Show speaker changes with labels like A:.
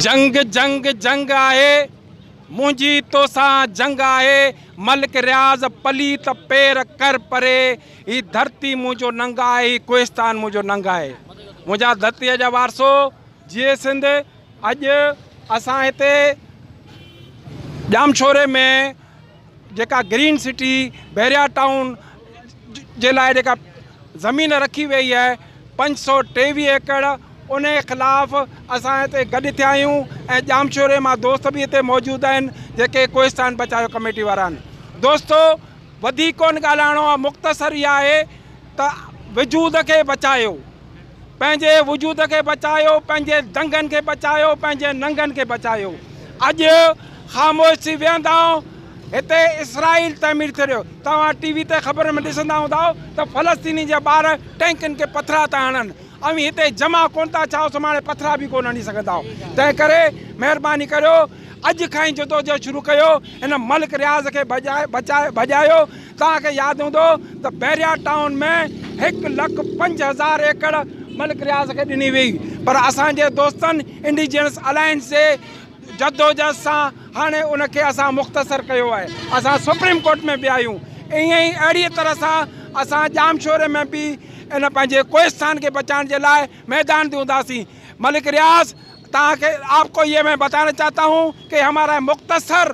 A: جنگ جنگ جنگ آهي منهنجي توسان جنگ آهي ملڪ رياض پليت پير ڪر پري هي ڌرتي منهنجو ننگ آهي هي ڪوهستان منهنجو ننگ آهي منهنجا ڌرتي جا وارثو جي سنڌ اڄ اسان هتي ڄامشوري ۾ جيڪا گرين سٽي بحريا ٽائون جي لاء جيڪا زمين رکي ويئي آهي پنج سؤ ٽيويهه ايڪڙ ان جي خلاف اسان هتي گڏ ٿيا آهيون ۽ ڄامشوري مان دوست به هتي موجود آهن جيڪي ڪوهستان بچايو ڪميٽي وارا آهن دوستو وڌيڪ ڪونه ڳالهائڻو آهي مختصر اها آهي ته وجود کي بچايو پنهنجي وجود کي بچايو، پنهنجي دنگن کي بچايو، پنهنجي ننگن کي بچايو. اڄ خاموش ٿي ويهندا هتي اسرائيل تعمير ٿي رهيو. توهان ٽي وي تي خبرن ۾ ڏسندا هوندا ته فلسطينين جا ٻار ٽينڪن کي پٿرا ٿا هڻن. اوهين هتي جمع ڪونه ٿا ڇا سڀاڻي پٿرا به ڪونه هڻي سگهندا. تنهن ڪري مهرباني ڪريو اڄ کان ئي جدوجهد شروع ڪيو هن ملڪ رياض کي بچايو. توهان کي ياد هوندو ته بحريا ٽائون ۾ هڪ لک پنج هزار ايڪڙ ملڪ رياض کي ڏني وئي پر اسان جي دوستن انڊيجينس الائنس جي جدوجهد سان هاڻي ان کي اسان مختصر ڪيو آهي اسان سپريم ڪورٽ ۾ به آيون ائين ئي اهڙي طرح سان اسان ڄامشوري ۾ به ان پنهنجي ڪوهستان کي بچائڻ جي لاء ميدان تي هونداسين ملڪ رياض توهان کي آپ ڪو يي مين بتانا چاهتا هون ڪي همارا مختصر